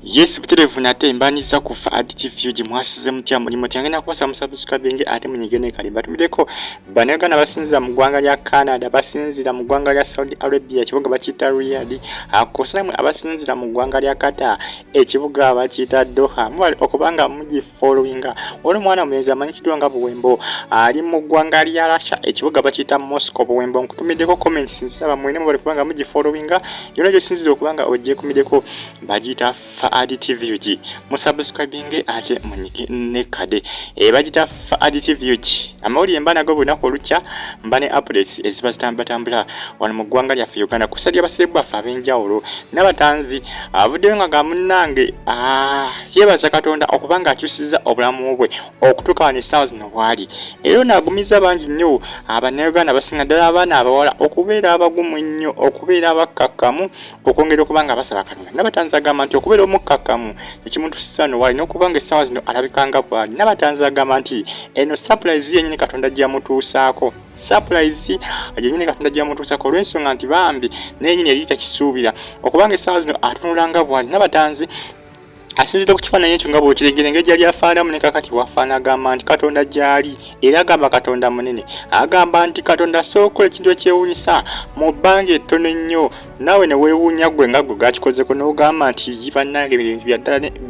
Yes buterevu nate mbanyiza ku Fahad TV uji mwasize mutya mulimo tyange na kuwasa musubscribing ate munyigene kali batumideko banagana basinzira mu gwanga lya Canada basinzira mu gwanga lya Saudi Arabia kibuga bakita Riyadh akosa mwe abasinzira mu gwanga lya Qatar ekibuga bakita Doha mwali okubanga muji following ono mwana mulenzi amanyikiddwa nga buwembo ali mu ggwanga lya rasha ekibuga bakiyita moscow buwembo nkutumiddeko comments nsaba mwene mubale kubanga mugi following yona gyosinziza okubanga ogyekumiddeko bagiyita faadi tvug musubscribinge ate munyike ne kade e eh, bagiyita faadi tvug amawulire mba nago bunaku olukya mba ne updates eziba zitambulatambula wano mu ggwanga lyaffe uganda kusalya abasirikbu baffe ab'enjawulo nabatanzi avuddeyo nga gamunange ah. yeebaza katonda okuba ng'akyusiza obulamu bwe okutuuka wano essaawa zino bwali era ono agumiza bangi nnyo abannayuganda abasinga ddala abaana abawala okubeera abagumu ennyo okubeera abakkakkamu okwongera okuba nga basaba katonda nabatanzi agamba nti okubeera omukkakkamu ekimutusiza no wali n'okuba nga essaawa zino alabika nga bwali nabatanzi agamba nti eno sapulayizi yennyini katonda gyamutuusaako sapulayizi yennyini katonda gyamutuusaako olw'ensonga nti bambi nenyini yali takisuubira okubanga essaawa zino atunula nga bwali nabatanzi asinzidde ku kifaananyi ekyo nga bw'okiregera engeri gyali afaanamu ne kakati bw'afaana agamba nti katonda gy'ali era agamba katonda munene agamba nti katonda asobola okukola ekintu ekyewuunyisa mu bbanga ettono ennyo naawe ne weewuunya ggwe nga ggwe gakikozeko n'ogamba nti bannange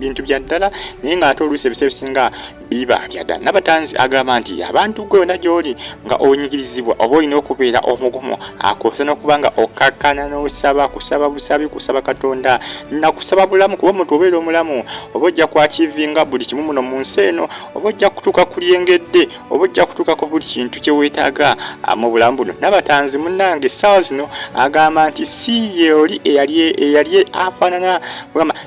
bintu bya ddala naye ng'ate oluusi ebiseera ebisinga biba byada nabatanzi agamba nti abantu gwe yona gyoli nga onyigirizibwa oba olina okubeera omugumu akosa nokuba nga okkakkana nosaba kusaba busabi kusaba katonda nakusaba bulamu kuba omuntu obeera omulamu oba ojja kwakivinga buli kimu muno mu nsi eno oba ojja kutuuka ku lyengedde oba ojja kutuuka ku buli kintu kyewetaaga ah, mu bulamu buno nabatanzi munange essaawa zino agamba nti si yeoli eyali afaanana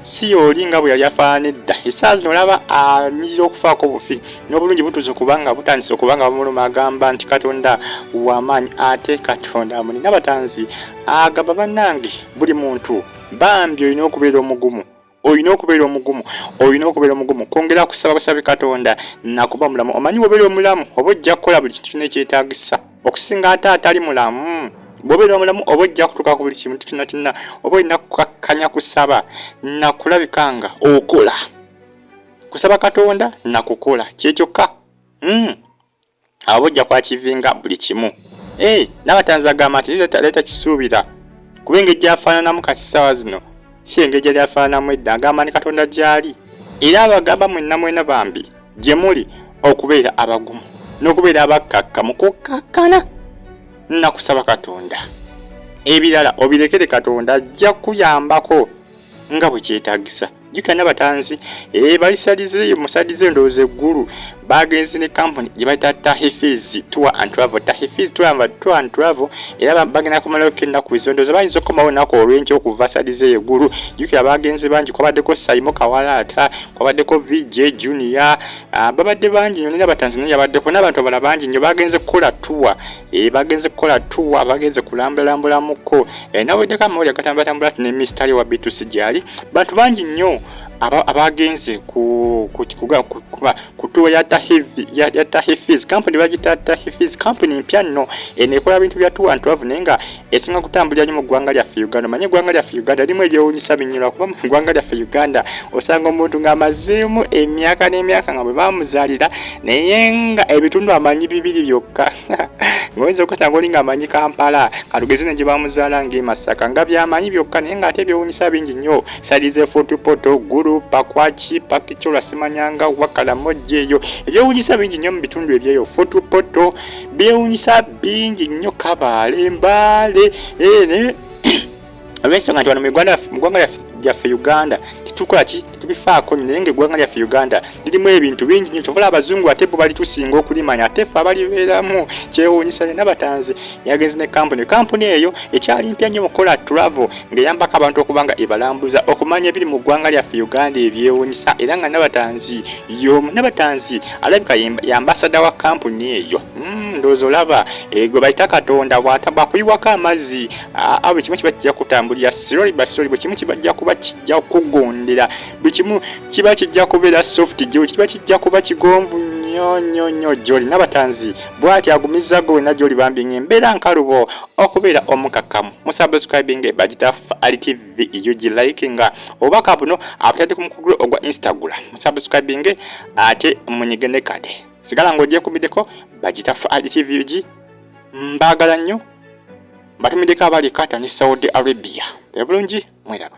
si y'oli nga bwe yali afaanana edda essaawa zino olaba anyirira okufaako obufi n'obulungi butuuse kubanga butandise okuba nga bamuluma agamba nti katonda wamaanyi ate katonda amulina abatanzi agamba bannange buli muntu bambi olina okubeera omugumu olina okubeera omugumu olina okubeera omugumu kwongera kusaba busabi katonda nakuba omulamu omanyi wobeera omulamu oba ojja kukola buli kintu kyona ekyetagisa okusinga ate atali mulamu bwobeera omulamu oba ojja kutuuka ku buli kimu kyonna kyonna oba olina kukakkanya kusaba nakulabika nga okola kusaba katonda nakukola kyekyokka hmm. aba ojja kwakivinga buli kimu eh, nabatanzi agamba nti leeta kisuubira kuba engeri gyafaananamu kati ssaawa zino si engeri gyali afaananamu edda agamba ne katonda gyali era abagamba mwenna mwena bambi gye muli okubeera abagumu n'okubeera abakkakka mu kukkakkana nakusaba katonda ebirala obirekere katonda ajja kuyambako nga bwe kyetagisa jukira nabatanzi eh, balisalize musalize endowooza eggulu bagenzi ne kampuni gye bayita tahifis tour and travel tahifis tour and travel era bagenda kumalayo ko ennaku bizibu endowooza bayinza okukomawo ennaku olwenkya okuva salize eggulu jukira bagenzi bangi kwabaddeko saimo kawalaata kwabaddeko vj junior ah, babadde bangi nyo nera batanzania yabaddeko n'abantu abala bangi nyo bagenze kukola tuwa eh, bagenze kukola tuwa bagenze kulambulalambulamukko eh, naweddeko amawuli agatambulatambula ti ne mistari wa bitusi gyali bantu bangi nyo abagenze kutuwa ya tahifiz kampuni bagita tahifiz kampuni mpya nno eno ekola bintu bya tuwa ntravu naye nga esinga kutambulira nyo mu ggwanga lyaffe uganda omanye eggwanga lyaffe uganda erimu ebyewunyisa binyo lwakuba mu ggwanga lyaffe uganda osanga omuntu ng'amazeemu emyaka n'emyaka nga bwe bamuzaalira naye nga ebitundu amanyi bibiri byokka ngaoyinza okasanga oli ngaamanyi kampala katugeze ne gye bamuzaala ng'emasaka nga byamanyi byokka naye ng'ate ebyewunyisa bingi nnyo salize fotupoto gulu pakwaki pakicola simanyanga wakalamojeeyo ebyewunyisa bingi nnyo mu bitundu ebyeyo fotupoto byewunyisa bingi nnyo kabaale mbaale eh, olwensonga nti wano mu uganda mu ggwanga lyaffe gyaffe Uganda tetukola ki tetubifaako naye nga eggwanga lyaffe Uganda lirimu ebintu bingi nyo kyobola abazungu ate bo balitusinga okulimanya ate ffe abalibeeramu kyewuunyisa nina batanzi yagenze ne kampuni kampuni eyo ekyali mpya nnyo mukola travel ng'eyambako abantu okuba nga ebalambuza okumanya ebiri mu ggwanga lyaffe Uganda ebyewuunyisa era nga nabatanzi yomu nabatanzi alabika yambasada wa kampuni eyo hmm, ndowooza olaba eh, gwe bayita katonda bwakuyiwako amazzi ah, ah, buli kimu kiba kijja kutambulira siroli basiroli buli kimu kibajja kuba kijja kugondera buli kimu kiba kijja kubeera soft gyo kiba kijja kuba kigonvu nyo nyo nyo gyoli nabatanzi bwati agumiza gwe wena gyoli bambi nga embeera nkalubo okubeera omukakamu musubscribing bagita ali tv VUG e like nga obubaka buno abutadde ku mukugu ogwa Instagram musubscribinge ate munyige ne kade sigala ng'ogyekumiddeko bagita Fahad TVUG e mbaagala nnyo mbatumiddeko abali Qatar ne Saudi Arabia ebulungi mweraba